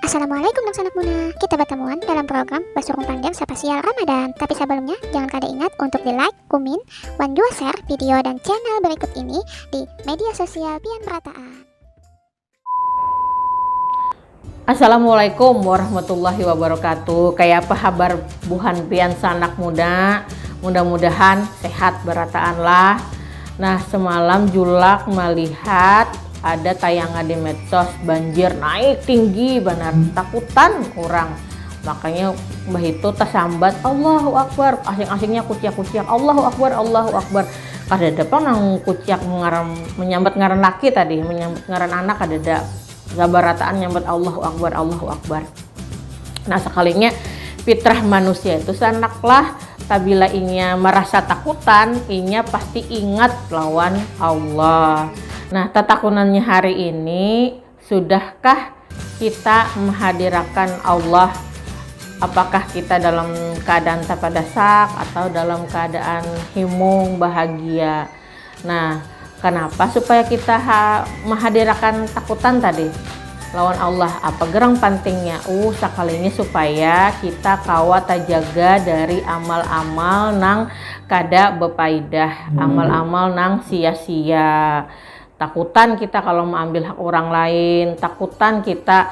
Assalamualaikum Nang Sanak Muna. Kita bertemuan dalam program Basurung Panjang Spesial Ramadan. Tapi sebelumnya, jangan kada ingat untuk di like, kumin, wan jua share video dan channel berikut ini di media sosial Pian Perataan. Assalamualaikum warahmatullahi wabarakatuh. Kayak apa kabar buhan pian sanak muda? Mudah-mudahan sehat berataan lah. Nah, semalam Julak melihat Ada tayangan di medsos, banjir naik tinggi banar, takutan urang. Makanya bahitu tasambat Allahu Akbar, asing-asingnya kuciak-kuciak Allahu Akbar, Allahu Akbar. Kadada pang nang kuciak ngaran menyambat ngaran laki tadi, menyambat ngaran anak kadada. Sabarataan nyambat Allahu Akbar, Allahu Akbar. Nah sakalinya fitrah manusia itu sanak lah tabila inya marasa takutan inya pasti ingat lawan Allah nah tatakunannya hari ini sudahkah kita mahadirakan Allah apakah kita dalam keadaan tapadasak atau dalam keadaan himung bahagia Nah, kanapa supaya kita ha mahadirakan takutan tadi lawan Allah? Apa gerang pantingnya? Uh, sakalinya supaya kita kawa tajaga dari amal-amal nang kada bapaidah, amal-amal nang sia-sia. Takutan kita kalau maambil hak urang lain, takutan kita